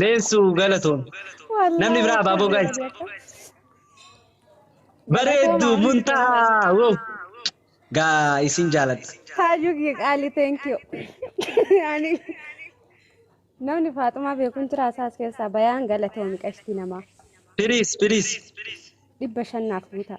Leensu galatoomi. Namni biraa abaaboo gaayis. Bareeddu muntahaa woo. Gaa isin jaaladha. Haajuu kiyya qaalii thank you. Ani namni faaxumaa beekuun jira asaas keessaa bayaan galatoomi qashtii namaa. Piriis piriis. Dhibba shannaaf guutaa.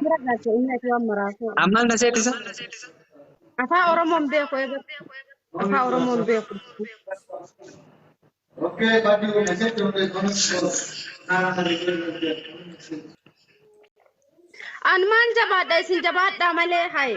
Mira galte inni ati waan maraasoo. Ammal na seetisa. Afaa Oromoon beeku eegar. Afaa Oromoon beeku. Okay, but you can set your comments for An maan jabaadha isin jabaadhaa malee haye.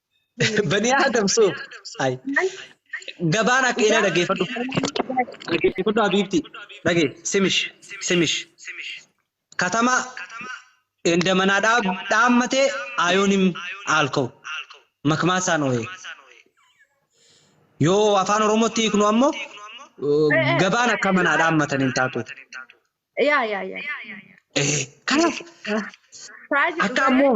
Banii Aadam suuf. Ay. Gabaan akka ina dhageeffadhu. Dhageeffadhu Habiibti. Dhagee simish simish. Katama enda manaa dhaab dhaammatee ayoonim aalkoo. Makmaasaan ooyee. Yoo afaan Oromootti hiiknu ammoo eh, gabaan akka manaa dhaammatan hin taatu. Yaa yaa yaa. Eh, Kanaaf Firaajii akka dhugaa ammoo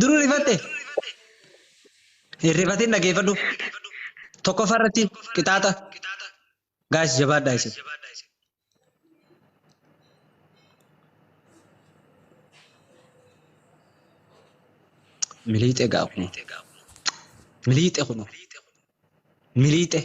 Duruu rifatte? Hin rifatin dhageeffadhu. Tokkoffaa irratti qixaaxa. Gaayis jabaadhaa isin. Miliixee gaa kun. Miliixee kun. Miliixee.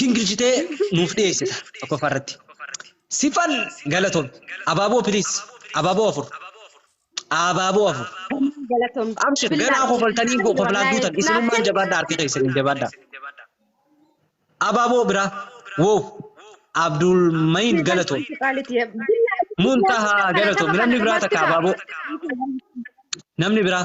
gingilchitee nuuf dhiyeessita tokkoffaa irratti. Sifan galatoom. Abaaboo piliis. Abaaboo afur. Abaaboo afur. Homaa galatoom. Abshir Bilaa ganaa koo kofaltanii kofaltanii koflaan wallaahi duutan naaf isinummaan kenni. jabaadha harka keessan hin jabaadha. Abaaboo biraa. Wow. Abdul Mayin galatoom. Muntahaa galatoom. Namni biraa takka abaaboo. Namni biraa.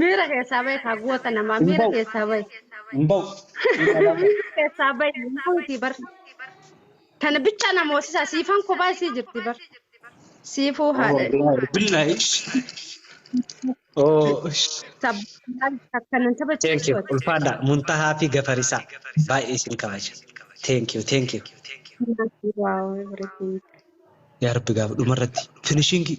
Miira keessaa bahe kaa goota namaa Hin miira ba'u. keessaa bahe. Hin ba'u. Miira alaa ba'u. Miira keessaa bahe hin bahuutii bar. Tana bichaa na moosisaa siifan kophaa isii jirti bar. Siifuu Oh, haadha. billahi. Billahi. Oh, Sabbataan akkanan thank taphachiisu you. ati. Ulfaadha. Muntahaa fi Gafarisaa. Baay'ee isin kabaja. Thank you, thank you. Wow, everything. Yaa Rabbi gaafa dhumarratti finishingii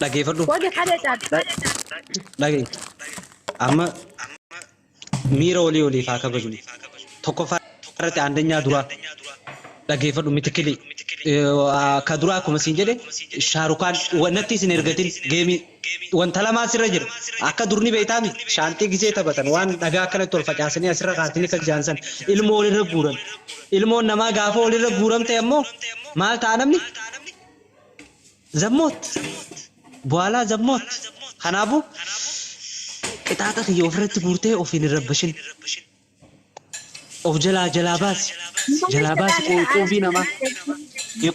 Dhageeffadhu. Wage kare chat. Dhage. Amma miira olii oliif haa kabajnu. Tokkoffaa irratti aandanyaa duraa. Dhageeffadhu mitikilii. Ka duraa akkuma siin jedhe shaarukaan natti isin ergatin geemii Wanta lamaa sirra jira. Akka dur ni beektaa miti? Shaanxii gisee taphatan, waan dhagaa akkanatti ol facaasanii asirra kaasanii akkas jedhan sana, ilmoo walirra guuran. Ilmoon namaa gaafa walirra guuramte ammoo maal ta'a namni? Zammoot! Buwaalaa zammoot! Kanaafuu, qixaaxa kiyya ofirratti guurtee ofiin hin rabbashin. Of jalaa jalaa baasi jalaa baasi quubii namaa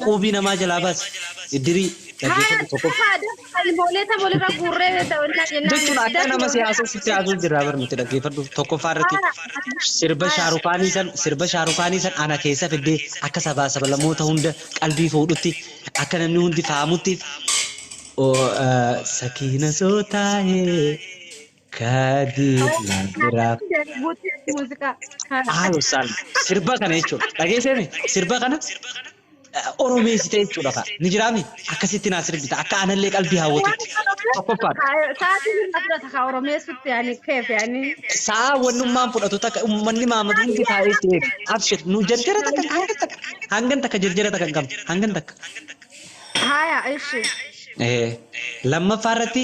quubii namaa jalaa baasi iddirii dhaggeeffadhu tokko. Jechuun akka nama siyaasa sitti haasuu jirraa bar nuti dhaggeeffadhu tokkoffaa irratti sirba shaarukaanii san sirba shaarukaanii san ana keessa fiddee akka sabaa sabalamoota hunda qalbii fuudhutti akka namni hundi faamutti. Sakiina soo taa'ee. Kadir na biraa. Haalo saan sirba kana jechuudha. Dhageesseemi sirba kana oromeessite jechuudha kaa. Ni jiraami akkasitti naa sirbita akka aanallee qalbii hawwatutti. Tokkoffaan. Sa'aatiin hin fudhata kaa oromeessutti ani keef ani. Sa'a wannummaan fudhatu takka uummanni maamadu hundi taa'ee si eega. Abshir nu jarjara takka hangan takka hangan takka jarjara takka hin qabne hangan takka. Haaya ishi. Lammaffaa irratti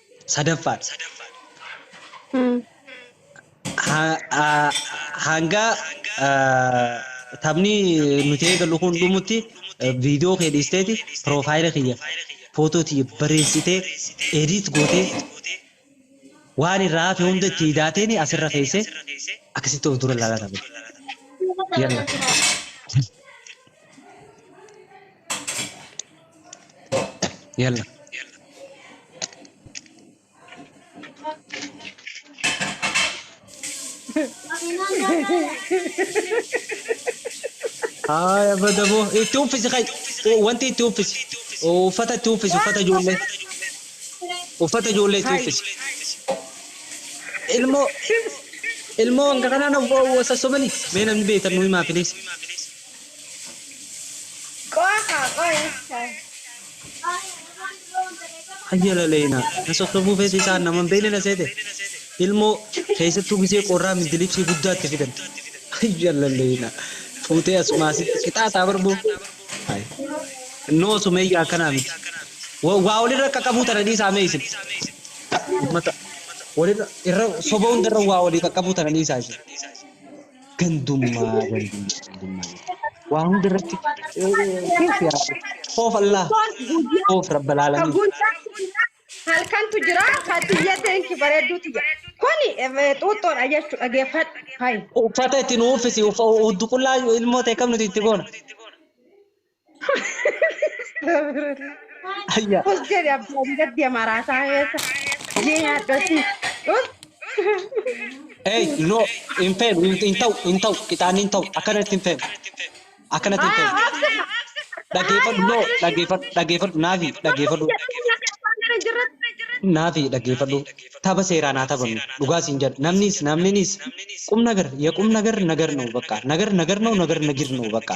3ffaadha. Hanga taphni nuti eegallu kun dhumutti viidiyoo kee dhiisteeti piroofaayila kiyya footoo tiyya bareessitee ediit gootee waan irraa hafe hunda itti hidaateeni asirra keesse akkasitti of dura ilaalaa taphata. Yalla. Haaya bada boo itti uffisi kai wanti itti uffisi uffata itti uffisi uffata ijoollee uffata ijoollee itti uffisi ilmoo ilmoo hanga kanaan of sassobani mee namni beektan nu himaa piliis. Qo'a kaa qo'a hin taane. Hayyala leena na sosobuu feetu isaan nama hin beekne na seete ilmoo keessattuu gisee qorraa mindilibsii guddaatti fidan. Hayyala leena fuutee as maasitti qixaaxaa barbuu. Noo sumeeyya akkanaa miti. Wa- Waa walirra akka qabuu tana dhiisaa mee isin. Ummata walirra irra soba hundarra waa walii qaqqabuu tana dhiisaa isin. Gandummaa gandummaa gandummaa jetti. Waa hunda irratti keef yaa koof Allah Kun guyyaa koof rabba ka laalamiin. guyyaa kiyya halkantu jira fatiyya thank you bareedduu tiyya kuni eh, xuuxxoodha jechu dhageeffadhu hayi Uffata itti nu uffisi uffa huddu qullaa ilmoo ta'e kam nuti itti goona. Ayyaa. Us jedhe abbaan gaddi amaraataa keessa. Jee nyaadhotti. Us. Hey, no, hin feenu, hin hin ta'u, hin ta'u, qixaanni hin ta'u, akkanatti hin feenu, akkanatti hin Haa feenu. obsa. Dhaggeeffadhu, no, dhaggeeffadhu, dhaggeeffadhu, naafi, Obsa dhaggeeffadhu, jettee nyaata abbaan gara hin jirretti. naafi, dhaggeeffadhu. Tapha seeraa naa taphannu, dhugaa siin jedha. Namnis, namninis, qum nagar, ya qum nagar, nagar na'u bakka. Nagar, nagar na'u, nagar nagir na'u bakka.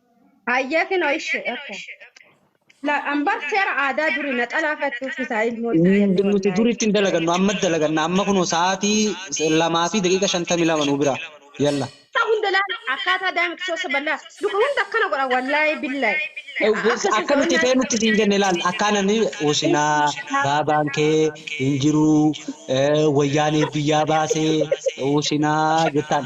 Hayyee kinoo ishi okay. La ambar seera aadaa duri na xalaafattu fisaa ilmoo isaa Nuti illee wallaahi. duriitti hin dalagannu amma dalaganna amma kunoo sa'aatii lamaa fi daqiiqa shantamii lama nu bira yalla. Isaa hunda ilaala akkaataa daa'imti soossa ballaa luka hunda akkana godha wallaahi billaahi. Akka isin Akka nuti so'oonnaa ta'e nutti siin jenne laal akkaan ani usinaa baabaan kee hin jiruu eh, wayyaanee biyyaa baasee usinaa jettaan.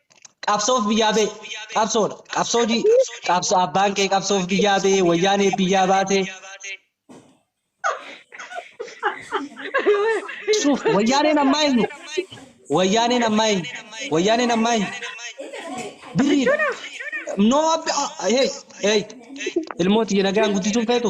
qabsoof biyyaa ba'e qabsoodha qabsoo ji qabsoo abbaan kee qabsoof biyyaa ba'e wayyaanee biyyaa baate suuf wayyaaneen ammaa eenyu wayyaaneen ammaa eenyu wayyaaneen ammaa eenyu birrii noo abbi hey hey ilmoo tiyya nagaan guddisuun feetu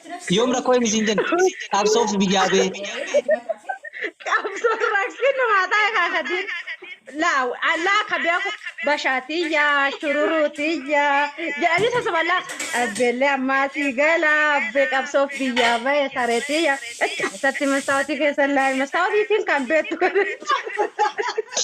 Yoom rakkoo hin isiin jenna. Qabsoof biyyaa bee. Qabsoon rakkina maa ta'e kaakatiin. Laa laa kabeeku bashaatiyya shururuutiyya jedhanii sasaba laa abbeellee ammaa sii gala abbee qabsoof biyyaa ba'e sareetiyya itti keessatti mastaawotii keessa laa mastaawotiitiin kan beektu godhachuu.